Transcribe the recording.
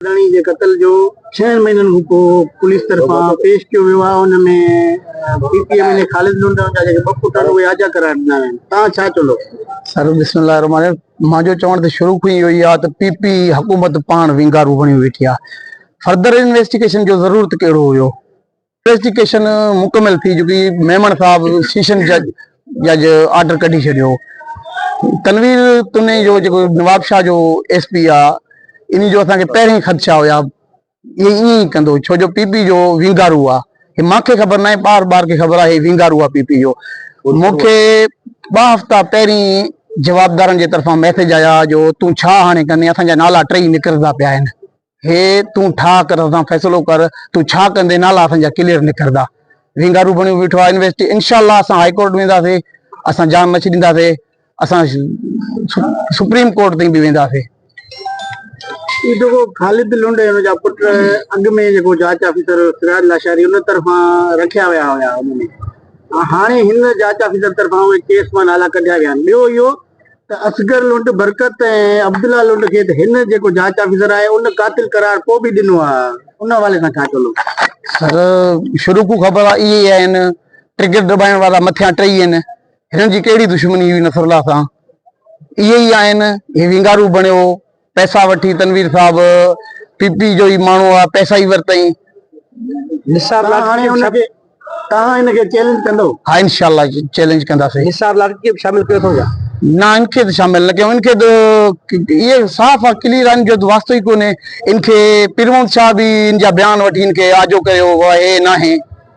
ڌڻي جي قتل جو ڇهن مهينن کان پوء پوليس طرفان پيش ڪيو ويو آهي ان ۾ P P M N A Khalid لنڊائون جا جيڪي ٻه پٽ آهن اهي آجا قرار ڏنا ويا آهن توهان ڇا چوندو؟ سر بسم الله الرحمن الرحيم مانجو چوڻ ته شروع کان ئي اهو ئي آهي ته پي پي حڪومت پاڻ وينگارو بڻيو ويٺي آهي فردر انويسٽيگيشن جو ضرورت ڪهڙو هيو پريزنٽيشن مڪمل ٿي چڪي ميمڻ صاحب سيشن جج جج آرڊر ڪڍي ڇڏيو تنوير تني جو جيڪو نوابشاهه جو ايس پي آ اني جو اسان کي پهرين خدشا هيا هي ائين ئي ڪندو ڇو جو پي پي جو وينگارو آ هي مانکي خبر ناهي ٻار ٻار کي خبر آ هي وينگارو آ پي پي جو مونکي ٻه هفتا پهرين جوابدارن جي طرفان ميسج آيا جو تون ڇا هاڻي ڪندين اسان جا نالا ٽيئي نڪرندا پيا آهن هي تون ٺاء ڪر اسان فيصلو ڪر تون ڇا ڪندين نالا اسان جا ڪليئر نڪردا وينگارو بڻيو بيٺو آ انويسٽي انشاءالله اسان هاء ڪورٽ وينداسي اسان جان نه ڇڏينداسي اسان سپريم ڪورٽ تائين به وينداسي خالد لنڊ هن جا پٽ اڳ ۾ جيڪو جاچ آفيسر سراج لاشاري ان طرفان رکيا ويا هيا هاڻي هن جاچ آفيسر طرفان اهي ڪيس مان نالا ڪڍيا ويا آهن ٻيو اهو ته اصغر لنڊ، برڪت ۽ عبدالله لنڊ کي ته هن جيڪو جاچ آفيسر آهي ان قاتل قرار ڪو به ڏنو آ ان حوالي سان ڇا چوندو؟ سر شروع کون خبر آ اهي ئي آهن ٽرگيٽ ڊٻائڻ وارا مٿيان ٽئي آهن هنن جي ڪهڙي دشمني هئي نصرالله سان اهي ئي آهن هي وينگارو بڻيو پئسا وٺي تنوير صاحب پي پي جو ئي ماڻهو آ پئسا ئي ورتئين. نثار لاڙڪاڻي کي به توهان هن کي چئلينج ڪندو. ها انشاء الله چئلينج ڪنداسين. نثار لاڙڪي کي به شامل ڪيو اٿو ڇا. نه ان کي ته شامل نه ڪيون ان کي ته اهي صاف آ ڪليئر آ ان جو ته واسطو ئي ڪونهي ان کي پيرمحمد شاهه به ان جا بيان وٺي ان کي آجو ڪيو هو اهي ناهي.